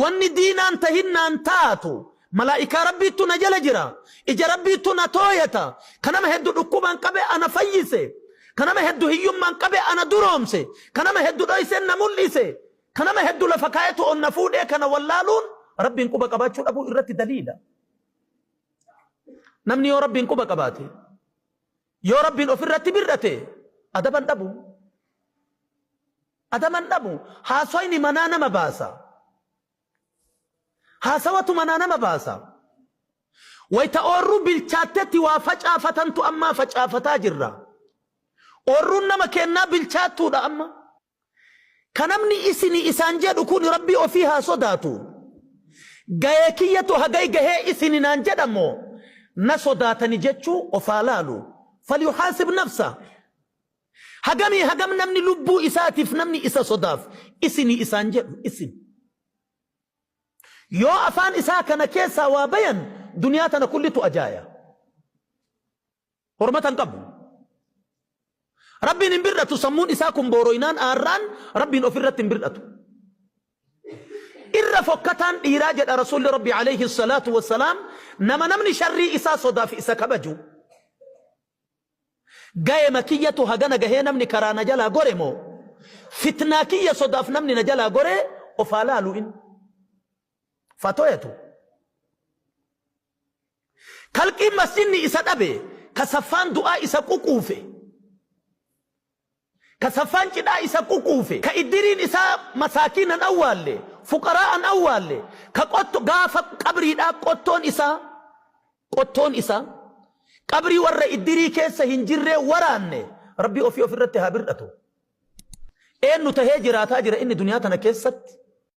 Wanni diinaan tahinnaan taatu malaa'ikaa Rabbiittu na jala jira. Ija Rabbiittu na tooyata. Ka nama heddu dhukkubaan qabe ana fayyise. Ka nama heddu hiyyummaan qabe ana duroomse. Ka nama heddu dhoyse na mul'ise. Ka nama heddu lafa kaayetu ol na fuudhee kana wallaaluun Rabbiin quba qabaachuu dhabuu irratti daliila. Namni yoo Rabbiin quba qabaate, yoo Rabbiin ofirratti bir'ate adaban dhabu. Adaman dhabu hasoyni manaa nama baasa haasawatu manaa nama baasa wayta oorruu bilchaattetti waa facaafatantu ammaa facaafataa jirra oorruun nama keennaa bilchaattuudha amma ka namni isini isaan jedhu kuni rabbii ofii haa sodaatu gayee kiyyatu hagay gahee isini naan jedha moo na sodaatani jechuu of haa laalu falyuhaasib nafsa Hagamii hagam namni lubbuu isaatiif namni isa sodaaf isini isaan jedhu isin Yoo afaan isaa kana keessaa waa bayan duniyaa tana kullitu ajaaya Hormata hin qabu Rabbiin hin bir'atu sammuun isaa kun booroynaan aarraan Rabbiin of irratti hin bir'atu Irra fokkataan dhiiraa jedha Rasuulli Rabbi alayhi salaatu wassalaam nama namni sharrii isaa sodaaf isa kabaju Gayema kiyyatu hagana gahee namni karaa na jalaa gore moo fitnaa kiyya sodaaf namni na jalaa goree of haa laalu in fatoyatu kalqiin masjidni isa dhabe ka saffaan du'aa isa ququufe. Ka saffaan cidhaa isa ququufe, ka iddiriin isaa masaakiina hin awwaalle, fuqaraa'a hin awwaalle, ka qotto, gaafa qabriidhaa qottoon isaa, qottoon isaa qabrii warra iddirii keessa hin jirree waraanne, Rabbi ofii ofirratti haa bir'atu. Eennu tahee jiraataa jira inni duniyaa tana keessatti?